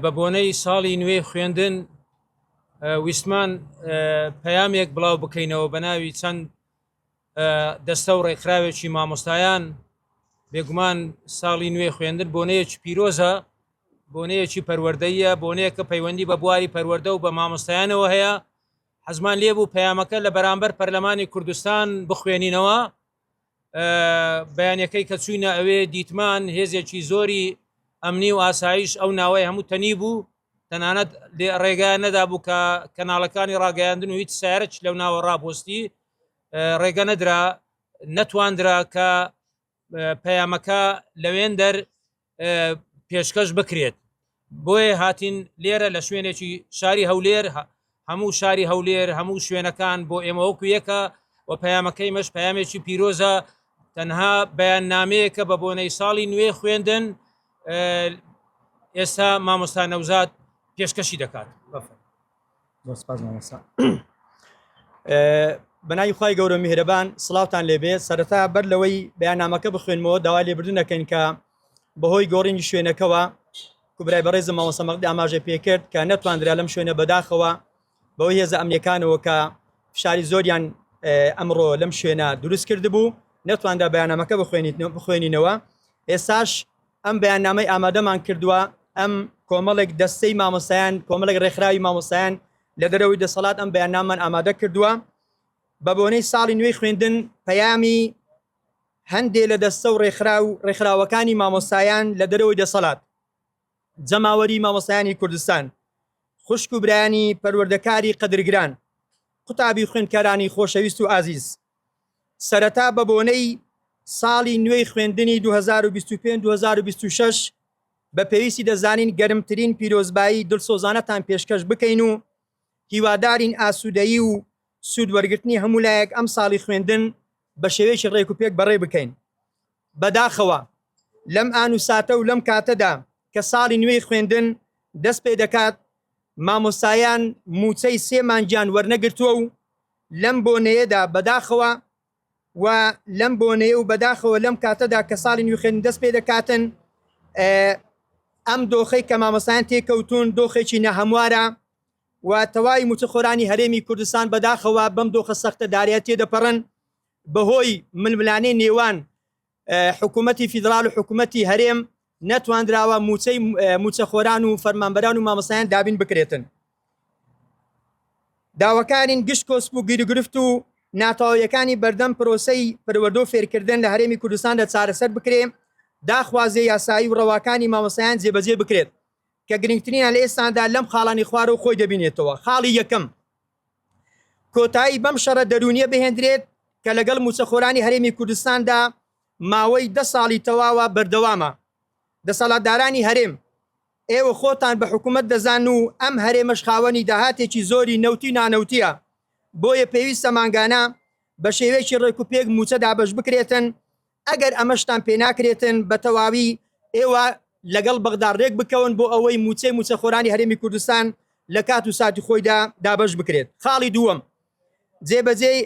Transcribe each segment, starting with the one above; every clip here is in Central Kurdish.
بە بۆنەی ساڵی نوێی خوێندن ویستمان پەیامێک بڵاو بکەینەوە بە ناوی چەند دەستە و ڕێکخراوێکی مامۆستایان بێگومان ساڵی نوێی خوێندن بۆنەیەکی پیرۆزە بۆنەیەکی پەروەردەیە بۆنەیە کە پەیوەندی بە بواری پەروەەردە و بە مامۆستایانەوە هەیە حەزمان لێبوو پەیامەکە لە بەرامبەر پەرلەمانی کوردستان بخوێنینەوە بەیانەکەی کە چوینە ئەوێ دیتمان هێزێکی زۆری ئەمنی و ئاسایش ئەو ناوەی هەموو تەنی بوو تەنانەت ڕێگای نەدابوو کە کەناڵەکانی ڕاگەیاندن و هیچ سارەچ لەو ناوە ڕاپۆستی ڕێگە نەدرا نەتواندرا کە پەیامەکە لەوێندەر پێشکەش بکرێت بۆیە هاتین لێرە لە شوێنێکی شاری هەولێر هەموو شاری هەولێر هەموو شوێنەکان بۆ ئێمە وەکو یەکە و پەیامەکەی مەش پامێکی پیرۆزە تەنها بەیان نامەیەکە بە بۆنەی ساڵی نوێ خوێندن ئێستا مامۆستا نەوزاد پێشکەشی دەکات بەفر زۆر سپاس مامۆستا بەناوی خی گەورە میهرەبان سلااوان لێبێ سەرەتا بەر لەوەی بەیانامەکە بخوێنمەوە داوا لێبردن دەکەین کە بەهۆی گۆڕینی شوێنەکەەوە کوبرای بەڕێزم ماوەسەمەقدی ئاماژە پێکرد کە نەتواندرا لەم شوێنە بەداخەوە بەوەی هێزە ئەمنیەکانەوە کە فشاری زۆریان ئەمڕۆ لەم شوێنە دروست کرد بوو نەتواندا بەیانامەکە بخوێنیت بخوێنینەوە ئێساش ئەم بەیاننامەی ئامادەمان کردووە، ئەم کۆمەڵێک دەستەی مامۆستایان، کۆمەڵێک ڕێکخراوی مامۆستایان لە دەرەوەی دەسەڵات ئەم بەیاننامەمان ئامادە کردووە. بە بۆنەی ساڵی نوێی خوێندن پەیامی هەندێ لە دەستە و ڕێکخراو و ڕێکخراوەکانی مامۆستایان لە دەرەوەی دەسەڵات، جەماوەری مامۆستایانی کوردستان، خوشک و برایانی پەروەردەکاری قەدرگران، قوتابی و خوێندکارانی خۆشەویست و ئازیز، سەرەتا بە بۆنەی ساڵی نوێی خوێندنی دوو هەزار و بیست و پێنج دوو هەزار و بیست و شەش بە پێویستی دەزانین گەرمترین پیرۆزبایی دڵسۆزانەتان پێشکەش بکەین و هیوادارین ئاسوودەیی و سوود وەرگرتنی هەموو لایەک ئەم ساڵی خوێندن بە شێوەیەکی ڕێک و پێک بەڕێ بکەین. بەداخەوە لەم ئان و ساتە و لەم کاتەدا کە ساڵی نوێی خوێندن دەست پێ دەکات مامۆستایان مووچەی سێ مانگیان وەرنەگرتووە و لەم بۆنەیەدا بەداخەوە و لەم بۆنەیە و بەداخەوە لەم کاتەدا کە ساڵی نوی خوێندن دەست پێ دەکاتن ئەم دۆخەی کە مامۆسایان تێکەوتون دۆخێکی نەهەموارە و تەواوی موچەخۆرانی هەرێمی کوردستان بەداخەوە بەم دۆخە سەختە دارایەتێ دەپەڕن بەهۆی ململانێ نێوان حکوومەتی فیدراڵ و حکوومەتی هەرێم نەتواندراوە موچەی موچەخۆران و فەرمانبەران و مامەسایان دابین بکرێتن داواکانین گشت کۆسپ و گیرگرفت و ناتەواویەکانی بەردەم پرۆسەی پەروەردە و فێرکردن لە هەرێمی کوردستان لە چارەسەر بکرێ داخوازیە یاسایی و ڕەواکانی مامەسایان جێبەجێ بکرێت کە گرنگترینە لە ئێستاندا لەم خاڵانی خوارەوە خۆی دەبینێتەوە خاڵی یەکەم کۆتایی بەم شەڕە دەروونییە بهێندرێت کە لەگەڵ مووچەخۆرانی هەرێمی کوردستاندا ماوەی دە ساڵی تەواوە بەردەوامە. دەسەڵاتدارانی هەرێم، ئێوە خۆتان بە حکوومەت دەزان و ئەم هەرێمەش خاوەنی داهاتێکی زۆری نەوتی و نانەوتییە، بۆیە پێویستە مانگانە بە شێوەیەکی ڕێکوپێک مووچە دابەشبکرێتن ئەگەر ئەمەشتان پێناکرێتن بەتەواوی ئێوە لەگەڵ بەغدا رێک بکەون بۆ ئەوەی مووچەی مووچەخۆرانی هەرێمی کوردستان لە کات و ساتی خۆیدا دابەش بکرێت. خاڵی دووەم جێبەجێی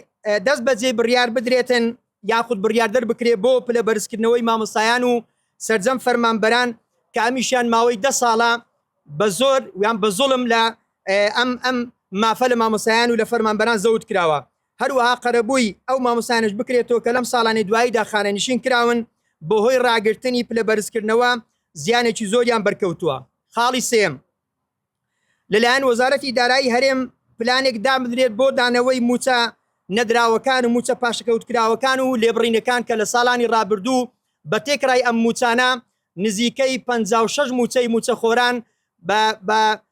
دەست بەجێی بڕیار بدرێتن یاخود بڕیار دەربکرێت بۆ پلە بەرزکردنەوەی مامۆستایان و سەرجەم فەرمانبەران کە ئەمیشیان ماوەی دە ساڵە بە زۆر یان بە زوڵم لە ئەم ئەم مافە لە مامۆستایان و لە فەرمانبەران زەوت کراوە هەروەها قەرەبووی ئەو مامۆستایانەش بکرێتەوە کە لەم ساڵانەی دواییدا خانەنشین کراون، بەهۆی راگرتنی پلە بەرزکردنەوە زیانێکی زۆریان بەرکەوتووە. خاڵی سێیەم، لەلایەن وەزارەتی دارایی هەرێم پلانێک دابنرێت بۆ دانەوەی مووچە نەدراوەکان و مووچە پاشەکەوتکراوەکان و لێبڕینەکان کە لە ساڵانی رابردوو بە تێکرای ئەم مووچانە نزیکەی پەنجا و شەش مووچەی مووچەخۆران بە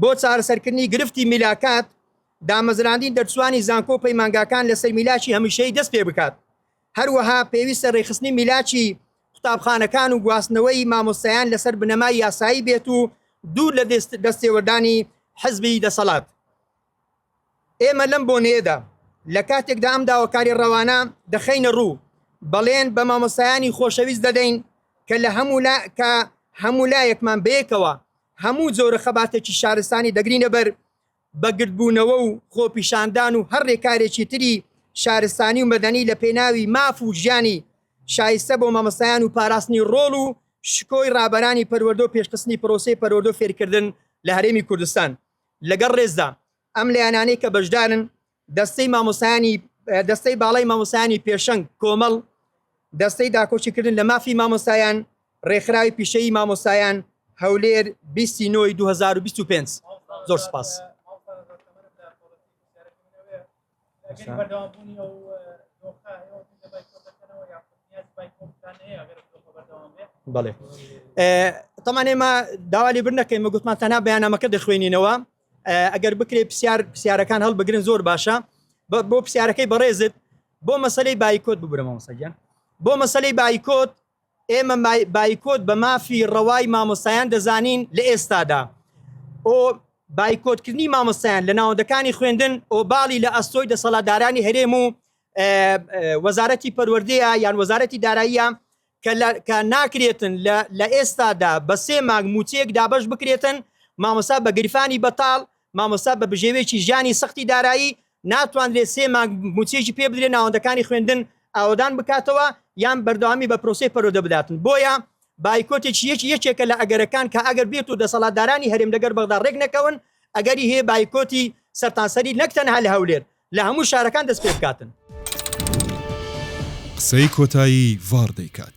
بۆ چارەسەرکردنی گرفتی میلاکات، دامەزراندنی دەرچووانی زانکۆ و پەیمانگاکان لەسەر میلاکی هەمیشەیی دەست پێ بکات. هەروەها پێویستە رێکخستنی میلاکی قوتابخانەکان و گواستنەوەی مامۆستایان لەسەر بنەمای یاسایی بێت و دوور لە دەستێوەردانی حزبی دەسەڵات. ئێمە لەم بۆنەیەدا لە کاتێکدا ئەم داواکاری ڕەوانە دەخەینە ڕوو، بەڵێن بە مامۆستایانی خۆشەویست دەدەین کە لە هەموو لا کە هەموو لایەکمان بەیەکەوە هەموو جۆرە خەباتێکی شارستانی دەگرینە بەر بە گردبوونەوە و خۆپیشاندان و هەر ڕێکارێکی تری شارستانی و مەدەنی لە پێناوی ماف و ژیانی شایستە بۆ مامۆستایان و پاراستنی ڕۆڵ و شکۆی ڕابەرانی پەروەردە و پێشخستنی پرۆسەی پەروەردە و فێرکردن لە هەرێمی کوردستان. لەگەڵ ڕێزدا ئەم لایەنانەی کە بەشدارن، دەستەی مامۆستایانی دەستەی باڵای مامۆستایانی پێشەنگ کۆمەڵ، دەستەی داکۆکیکردن لە مافی مامۆستایان، ڕێکخراوی پیشەیی مامۆستایان، هەولێر، بیست ی نۆی دوو هەزار و بیست و پێنج. زۆر سوپاس. بڵێ تەمان ئێمە داوالی بر نەکەین گوتمان تەنا بەیانامەکە دەخوێنینەوە ئەگەر بکرێت پرسیار پرسیارەکان هەڵبگرن زۆر باشە بۆ پرسیارەکەی بەڕێزت بۆ مەسلەی بایکۆت ببرەمەوە سەگیان بۆ مەسلەی بایکۆت ئێمە بایکۆت بە مافی ڕەوای مامۆستایان دەزانین لە ئێستادا و بایکۆتکردنی مامۆستایان لە ناوەندەکانی خوێندن ئۆباڵی لە ئەستۆی دەسەڵاتدارانی هەرێم و وەزارەتی پەروەردەیە یان وەزارەتی داراییە کە ناکرێتن لە ئێستادا بە سێ مانگ موچەیەک دابش بکرێتن مامۆسا بە گرفانی بەتاڵ مامۆسا بە بژێوێکی ژیانی سەختی دارایی ناتوانرێت سێ مانگ مووچەیەکی پێ بدرێت ناوەندەکانی خوێندن ئاوەدان بکاتەوە یان بەردەوامی بە پرۆسەی پەرۆدە بداتن بۆیە بایکۆتێکی یەکی یەکێکە لە ئەگەرەکان کە ئەگەر بێت و دەسەڵاتدارانی هەرێم لەگەر بەغدا ڕێک نەکەون ئەگەری هەیە بایکۆتی سەرتانسەری نەک تەنها لە هەولێر لە هەموو شارەکان دەست پێ بکاتن. قسەی کۆتایی ڤاڕ دەیکات.